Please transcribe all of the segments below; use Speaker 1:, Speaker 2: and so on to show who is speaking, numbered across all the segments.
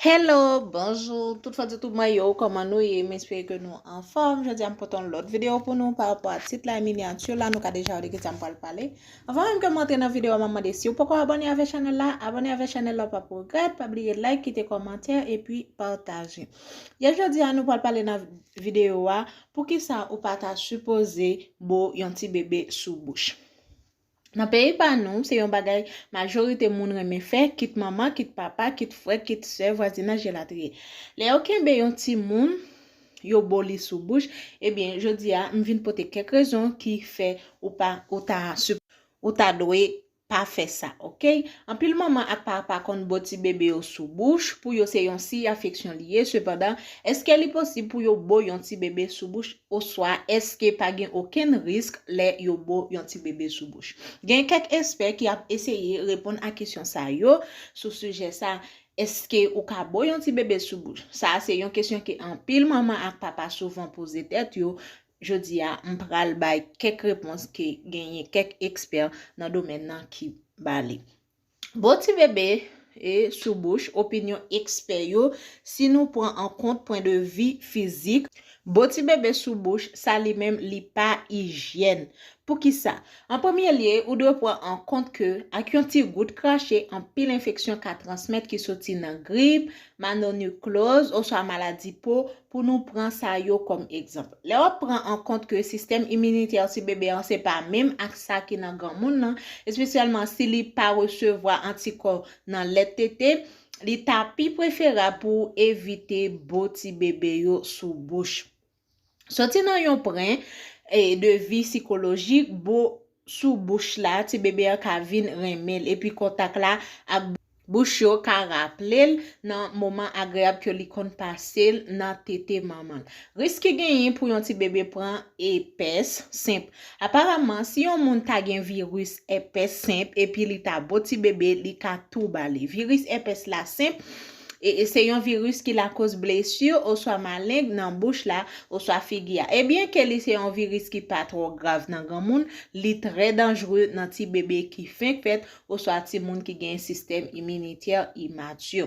Speaker 1: Hello, bonjou tout fans YouTube mwen yo, kòman nou ye? M espere ke nou anfòm. Jodi a m pote yon lòt videyo pou nou pa rapò a tit la, miniature la, nou ka deja wè de ki sa m pral pale. Anvan menm ke m antre nan videyo a, m ap mande si ou poko abòne avèk chanèl la, abòne avèk chanèl la ou pap regrèt, pa bliye like, kite kòmantè epi pataje. Yè jodi a nou pral pale nan videyo a, poukisa ou pa ta sipoze bo yon ti bebe sou bouch. Nan peyi pa nou, se yon bagay majorite moun renmen fè, kit manman, kit papa, kit frè, kit sè, vwazinaj elatriye. Lè yo kenbe yon timoun, yo bo li sou bouch, ebyen jodi a, m vin pote kèk rezon ki fè ou pa, ou ta sup, ou ta dwe pa fè sa, ok? Anpil manman ak papa konn bo ti bebe yo sou bouch, pou yo se yon siy afeksyon li ye, sepandan, èske li posib pou yo bo yon ti bebe sou bouch? Oswa, èske pa gen okenn risk lè yo bo yon tibebe sou bouch? Gen kèk espè ki ap eseye reponn a kesyon sa yo sou sijè sa a, Èske ou ka bo yon tibebe sou bouch? Sa a se yon kesyon ke anpil manman ak papa souvan poze tèt yo. Jodi a, m pral bay kèk repons ke genyen kèk ekspè nan domèn nan ki ba li. Bon ti bebe e sou bouch opinyon ekspè yo si nou pran an kont pwen de vi fizik. Bo ti bebe sou bouch sa li menm li pa ijyèn. Poukisa? An premye lye, ou dwe pran an kont ke ak yon ti gout krache anpil enfeksyon ka transmèt ki soti nan grip, manonukloz oswa maladi po Pou nou pran sa yo kòm egzanp. Lè w ap pran an kont ke sistèm iminitè ti bebe an se pa menm ak sa ki nan granmoun nan, espesyalman si li pa resevwa antikò nan lèt tete, li ta pi preferab pou ou evite bo ti bebe yo sou bouch. Soti nan yon pwen de vi sikolojik, bo sou bouch la, ti bebe an ka vin renmen l epi kontak la ak bouch yo ka raple l nan moman agreyab ke li konn pase l nan tete manman l. Risk ki genyen pou yon ti bebe pran èpès senp. Aparaman, si yon moun ta gen viris èpès senp epi li ta bo ti bebe, li ka tou ba li. Viris èpès la senp Se yon viris ki lakoz blesi oswa maleng nan bouch la oswa figi a. E byen ke li se yon viris ki pa twò grav nan granmoun, li trè danjre nan ti bebe ki fenk fèt oswa timoun ki gen sistèm iminitè imati.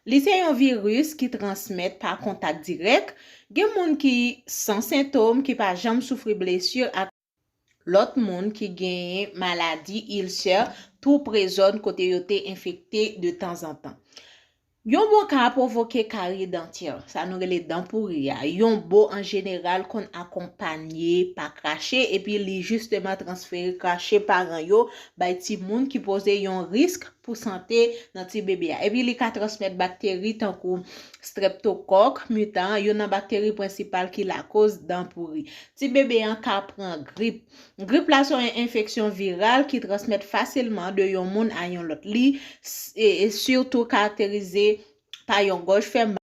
Speaker 1: Li se yon viris ki transmèt pa kontak dirèk. Gen moun ki san sentom, ki pa janm soufri blesi ak. Lòt moun ki genyen maladi ilsè tou pre zòn kote yo te enfekte de tanzantan. Yon bo ka pwovoke karye dantyè, sa nou rele dan pouri a. Yon bo an jeneral konn akonpanye pa krache epi li jisteman transfere krache paran yo bay timoun ki poze yon risk pou sante nan ti bebe a. Epi li ka transmèt bakteri tankou streptokòk mitan, youn nan bakteri prensipal ki lakoz dan pouri. Ti bebe an ka pran grip. Grip la se yon enfeksyon viral ki transmèt fasilman de yon moun a yon lòt. Li sitou karakterize pa yon gòj fè mal,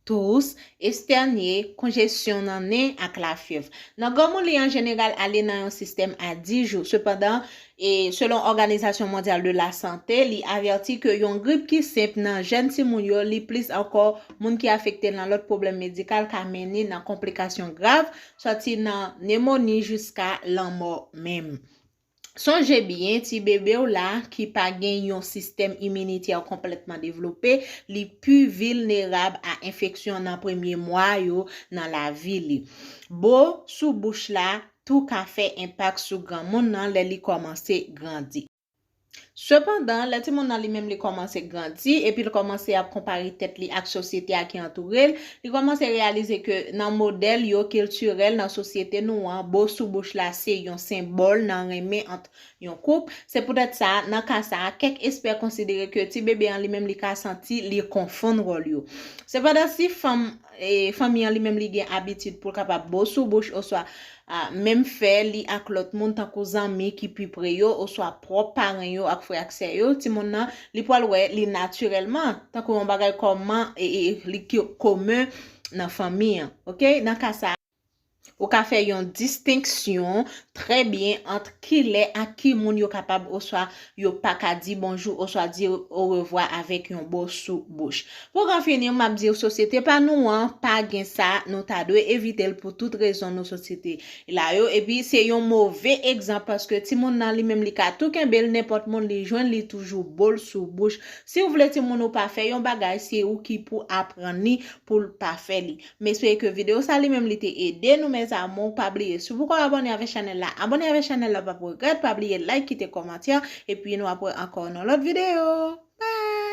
Speaker 1: tous, estènye, konjesyon nan nen ak lafyèv. Nan granmoun li an jeneral ale nan yon sistèm a 10 jou. Sepandan, E selon Òganizasyon Mondyal de la Sante, li avèti ke yon grip ki senp nan jèn timoun yo, li plis ankò moun ki afekte nan lòt pwoblèm medikal ka mennen nan konplikasyon grav, sòti nan nemoni jiska lanmò menm. Sonje byen, ti bebe w la ki pa gen yon sistèm iminitè konplètman devlope, li pi vilnerab a enfeksyon nan premye mwa yo nan lavi li. Bo sou bouch la tou ka fè enpak sou granmoun nan lè li kòmanse grandi. Sepandan, lè timoun nan li menm li kòmanse grandi epi l kòmanse ap konpare tèt li ak sosyete a ki antoure l, li kòmanse reyalize ke nan modèl yo kiltirèl nan sosyete nou an, bo sou bouch la se yon senbòl nan renmen ant yon koup. Se poutèt sa, nan ka sa a, kèk espè konsidere ke ti bebe an li menm li ka santi li konfonn wòl yo. Sepandan, si fanm. fanmi an li menm li gen abitid pou l kapab bo sou bouch oswa menm fè li ak lòt moun tankou zanmi ki pi pre yo oswa pwòp paren yo ak frè ak sè yo, timoun nan li pral wè li natirèlman tankou yon bagay kòman li komen nan fanmi an. Ok, nan ka sa. Ou ka fè yon distenksyon trè byen ant ki lè ak ki moun yo kapab oswa yo pa ka di bonjou oswa di orevwa avèk yon bo sou bouch. Pou k an fini, m ap di w sosyete pa nou an pa gen sa, nou ta dwe evite l pou tout rezon nou sot site la yo. Epi se yon move egzanp paske timoun nan li menm li ka tou kenbe l, nenpòt moun li jwenn li toujou bo l sou bouch. Si w vle timoun ou pa fè yon bagay, se ou ki pou aprann li pou l pa fè li. Mesi e ke video sa li menm li te ede nou mes amour pa bliye si ou poko abone avè chanel la abone avè chanel la pap regrèt pa bliye like kite komantè epi nou ap wè ankò nan lot video bye.